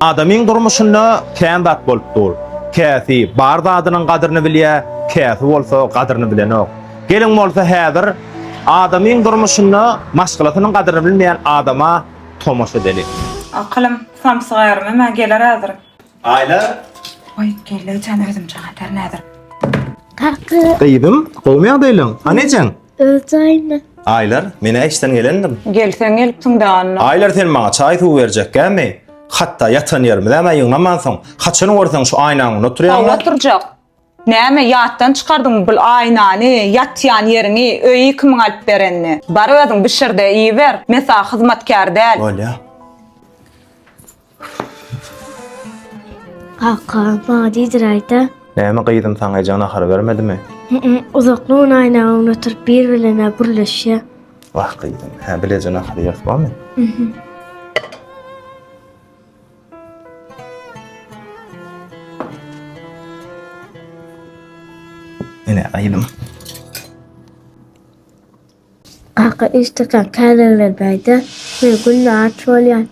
Adamyň durmuşynda kän zat bolup dur. Käsi bar zadynyň gadyryny bilýä, käsi bolsa gadyryny bilenok. Gelin bolsa häzir adamyň durmuşynda maşgalasynyň gadyryny bilmeýän adama tomaşa edeliň. Akylym, samsyk ärem hem-ä geler häzir. Aýla. Goý, gelle jan özümçe gatar näzir. Kakgy. Gyzym, gowmy ýagdaýlaň? Hany ejeň? Öz jaýynda. Aýlar, men-ä işden gelendim. Gel, sen gelipsiň danda. Aýlar, sen maňa çaý-suw berjekkämi? Hatda ýatan ýerimizem-ä ýygnamansoň, haçan görseň şu aýnaň öňünde oturýaňmy? Hawa, oturjak. Näme, ýatdan çykardyňmy bul aýnany, ýatýan ýeriňi, öýi kimiň alyp berenini? Bar özüň bişir-de iýiber, men saňa hyzmatkär däl. Bolýa. Kaka, maňa diýdir aýda. Näme gyzym saňa ejeň nahar bermedimi? Hı-ı, uzakly gün aýnagyň öňüne oturyp bir-birlerine gürleşýär. Wah gyzym, hä bileje nahar iýeris barmy? Ine gyzym. Kaka iş takan kärenler beýde men günde aç bolýan.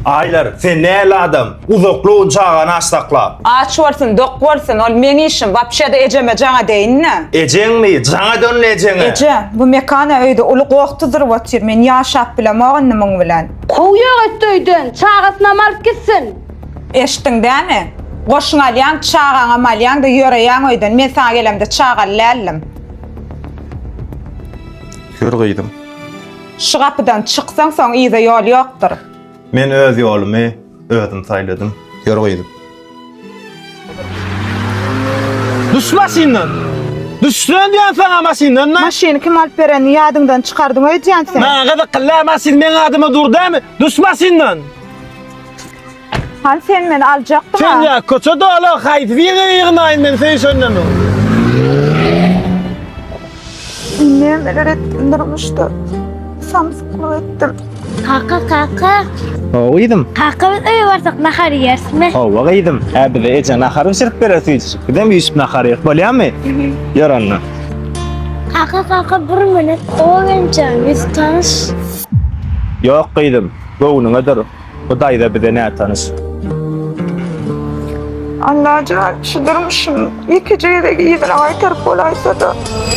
Aýlar sen näl adam uzakly gün çagany aç saklap. Aç bolsun dok bolsun ol meň işim wapşeda ejeme jaň edeýinle. Ejeňmi jaň ede onda ejeňe. Eje, bu Mekana öýde uly goh tuzuryp otyr, men ýaşap bilemok indi muň bilen. Kowýok et öýden, çagasynam alyp gitsin. Eşitdiň dämi? Goşuňy alýaň, çagaňam alýaň-da ýöreýäň öýden, men saňa gelemde çagaly däldim. Ýör gyzym. Şu gapydan çyksaň soň yza ýol ýokdur. Men öz ýolumy özüm saýladym. Ýör gyzym. Düş maşyndan! Düşsün diýen saňa maşyndan da! Maşyny kim alyp berenini ýadyňdan çykardyň öýdýän sen. Maňa gyzykly däl maşyn meň adyma dur dämi? Düş maşyndan! Hani sen meni aljakdyň Sen ha? ya köçe dolu haydi bir yere yığınayım men sen şöyle mi? Neler ettim durmuşda. Samsıklı ettim. Kaka kaka. Hawa gyzym. Kaka biz öýe barsak nahar ýersmi? Hawa gyzym. Hä bize eje nahar bişirip berer süýjüjik. Bizem üýşüp nahar ýerik bolýarmy? Ýör onda. Kaka kaka bir minut. Ogenjan biz tanyş. Ýok gyzym. Göwnüňe dur. Bu daýza bize nätanyş. Annajan şu durmuşym ýekeje gezek yzyna gaýtaryp bolaýsada.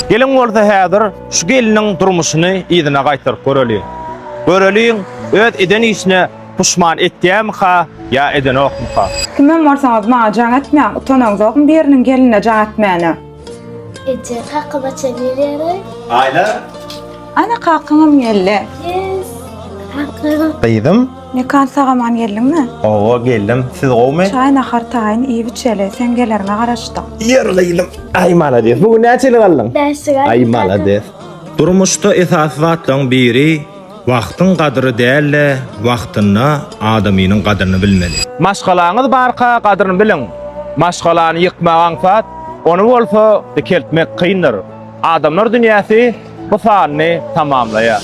Geliň bolsa häzir şu gelniň durmuşyny yzyna gaýtaryp göreliň. Göreliň öz eden işine puşman etýämika ýa edenokmyka. Kimem bolsaňyz maňa jaň etmäň utanaňzokmy biriniň gelinine jaň etmäne. Eje, kaka baça gelýär. Aýla. Ana kakaňam geldi. Yes. Kaka. Gyzym. Mekan sagaman geldiňmi? Owa geldim. Siz gowmy? Çaý nahar taýyn iýip içeli. Sen geleriňe garaşdyk. Ýör gyzym. Aý malades. Bu gün näçe ýyl galdyň? Bäş ýyl. Aý malades. Durmuşda esasy zatlaryň biri Wagtyň gadyry däl-de, wagtynda adamynyň gadyryny bilmeli. Maşgalaňyz barka gadyryny biliň. Maşgalany ýykmak aňsat, ony bolsa dikeltmek kyndyr. Adamlar dünýäsi bu sanyny tamamlaýar.